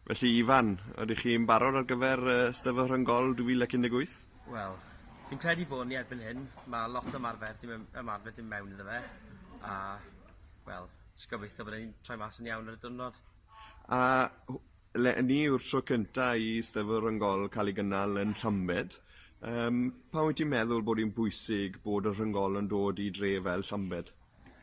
Felly Ifan, ydych chi'n barod ar gyfer yy Steddfod Rhyng-gol 2018? Wel, fi'n credu bod ni erbyn hyn. Mae lot o ymarfer dim yn ymarfer dim mewn iddo fe a wel, jyst gobeithio bod e'n troi mas yn iawn ar y diwrnod. A w- le- ni yw'r tro cynta i Steddfod Rhyng-gol cael ei gynnal yn Llambed. Yym pam wyt ti'n meddwl bod hi'n bwysig bod y Rhyng-gol yn dod i dre fel Llambed?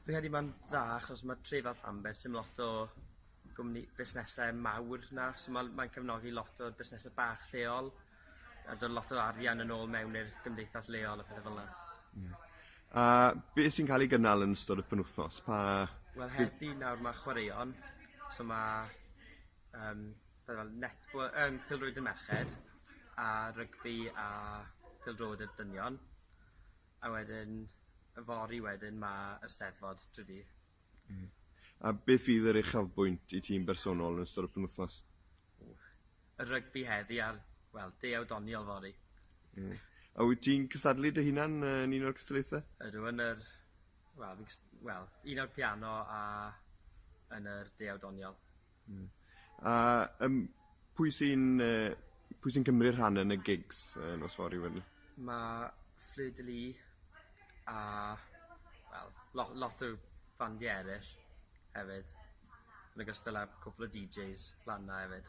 Fi'n credu ma'n dda achos ma' tre fel Llambed sim lot o gwmni busnese mawr 'na so ma' l- mae'n cefnogi lot o busnese bach lleol a do' lot o arian yn ôl mewn i'r gymdeithas leol a pethe fel 'na. Ie. A be' sy'n ca'l ei gynnal yn ystod y penwthnos pa... Wel heddi nawr ma' chwaraeon so ma' yym pethe fel netball yym pêl-rwyd y merched a rygbi a pêl-drod y dynion. A wedyn yfory wedyn ma yr steddfod trydy dydd. Ie. A beth fydd yr uchafbwynt i ti yn bersonol yn ystod y penwthnos? Y rygbi heddi a'r, wel, deuaw doniol fory. Ie. A wyt ti'n cystadlu dy hunan yn un o'r cystadlaethau? Ydw, yn yr... Wel, fi'n cyst- wel, un o'r piano a yn yr deuaw doniol. Hmm. A yym pwy sy'n yy pwy sy'n cymryd rhan yn y gigs yy nos fory wedyn? Ma' Fleur de Lys a wel lo- lot o fandie eryll hefyd yn ogystal â cwpwl o Deejays lan 'na efyd.